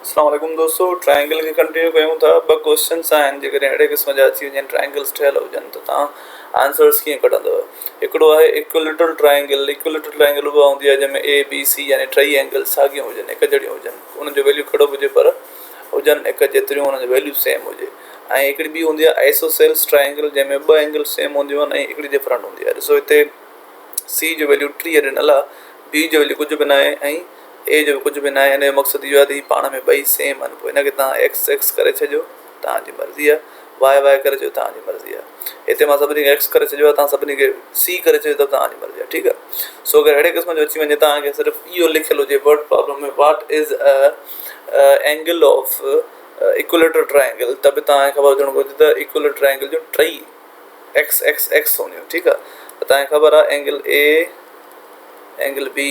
اسلام عليڪم دوستو ٽرائينگل کي ڪنٽينيو ڪيون ٿا ٻه ڪوشچنس آهن جيڪڏهن اهڙي قسم جا اچي وڃن ٽرائينگلس ٺهيل هجن ته تان آنسرس ڪيئن ڪڍندو هڪڙو آهي ايڪولٽرل ٽرائينگل ايڪولٽرل ٽرائينگل اها هوندي آهي جنهن ۾ اي بي سي يعني ٽئي اينگلس ساڳيون هجن هڪ جهڙيون هجن انهن جو ويليو ڪهڙو به هجي پر هجن هڪ جيتريون انهن جو ويليو سيم هجي ۽ هڪڙي ٻي هوندي آهي آئسو سيلس ٽرائينگل جنهن ۾ ٻه اينگل سيم هونديون آهن ۽ هڪڙي ڊفرنٽ هوندي آهي ڏسو هتي سي جو ويليو ٽيهه ڏنل آهي بي جو ويليو ڪجهه به ناهي ۽ اي جو ڪجهه به ناهي ان جو مقصد اهو آهي ته هي پاڻ ۾ ٻئي سيم آهن پوء ان کي توهان ايڪس ايڪس ڪري ڇڏيو توهان جي مرضي آهي واء واء ڪري ڇڏيو توهان جي مرضي آهي هتي مان سڀني کي ايڪس ڪري ڇڏيو آهي توهان سڀني کي سي ڪري ڇڏيو ته توهان جي مرضي آهي ٺيڪ آهي سو اگر اهڙي قسم جو اچي وڃي توهان کي صرف اهو لکيل هجي word problem ۾ what is a angle of equilateral triangle ته به توهان کي خبر هجڻ گهرجي ته اڪوليٽر ٽرائينگل جون ٽئي ايڪس ايڪس ايڪس هونديون ٺيڪ آهي ته توهان کي خبر آهي اينگل اي اينگل بي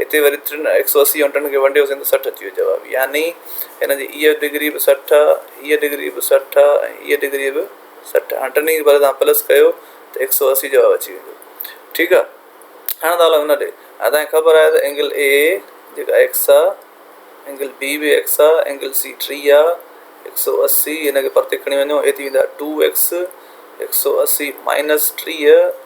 هتي وري ٽن هڪ سئو اسي ۽ ٽن کي ونڊيوسين ته سٺ اچي ويو جواب يعني هن جي هيء ڊگري به سٺ هيء ڊگري به سٺ ۽ هيء ڊگري به سٺ هاڻي ٽنهي کي ڀلي توهان پلس ڪيو ته هڪ سئو اسي جواب اچي ويندو ٺيڪ آ هاڻي ٿا هلون هن ڏي هاڻي تهانکي خبر آهي ته اينگل اي جيڪا ايڪس آ اينگل بي به ايڪس آ اينگل سي ٽيهه آ هڪ سئو اسي هن کي پرتي کڻي وڃو هي ٿي ويندا ٽو ايڪس هڪ سئو اسي مائنس ٽيهه